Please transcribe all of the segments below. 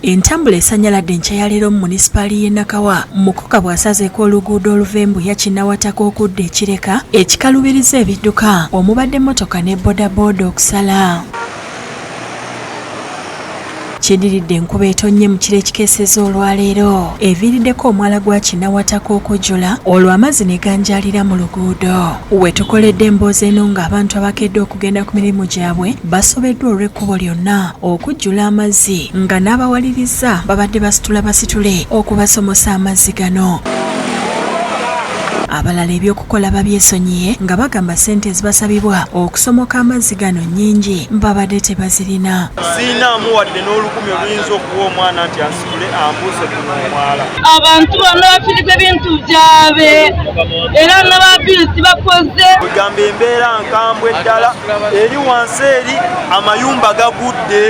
Entambula esanyaladde enkya ya leero mu munisipaali y'e Nakawa mukoka bw'asazeeko oluguudo oluva embuya kinnawataka okudda ekireka ekikalubiriza ebidduka omubadde mmotoka ne bodaboda okusala kidiridde enkuba etonnye mu kiro ekikeeseza olwaleero eviiriddeko omwala gwa kinawataka okujula olwo amazzi ne ganjaalira mu luguudo we tukoledde emboozi eno ng'abantu abakedde okugenda ku mirimu gyabwe basobeddwa olw'ekkubo lyonna okujjula amazzi nga n'abawaliriza babadde basitula basitule okubasomosa amazzi gano abalala ebyokukola babyesonyiye nga bagamba sente ezibasabibwa okusomoka amazzi gano nyingi babadde tebazirina sirinaamu wadde n'olukumi oluyinza okuwa omwana nti abantu bano bafiriza ebintu byabe era n'ababiru tibakoze egamba embeera nkambwe ddala eri wansi eri amayumba gagudde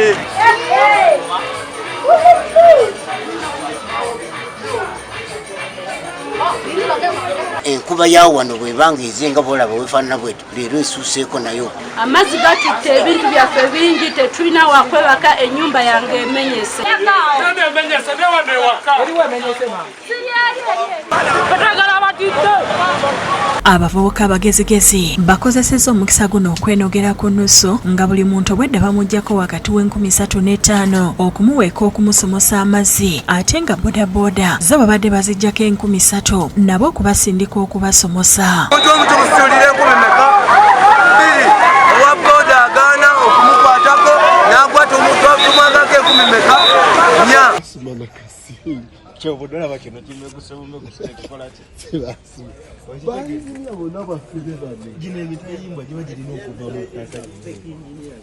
enkuba ya wano bwebanga ezenga bolaba wefaanana bwet leero esuuseeko nayo amazzi gatutte ebintu byaffe bingi tetulina wakwebaka enyumba yange emenyese abavubuka abagezigezi bakozeseza omukisa guno okwenogera ku nusu nga buli muntu obwedda bamugjako omuntu w'enkumi satu n'etaano okumuweeka okumusomosa amazzi ate nga bodaboda zo babadde bazijjako enkumi satu nabo okubasindika okubasomosa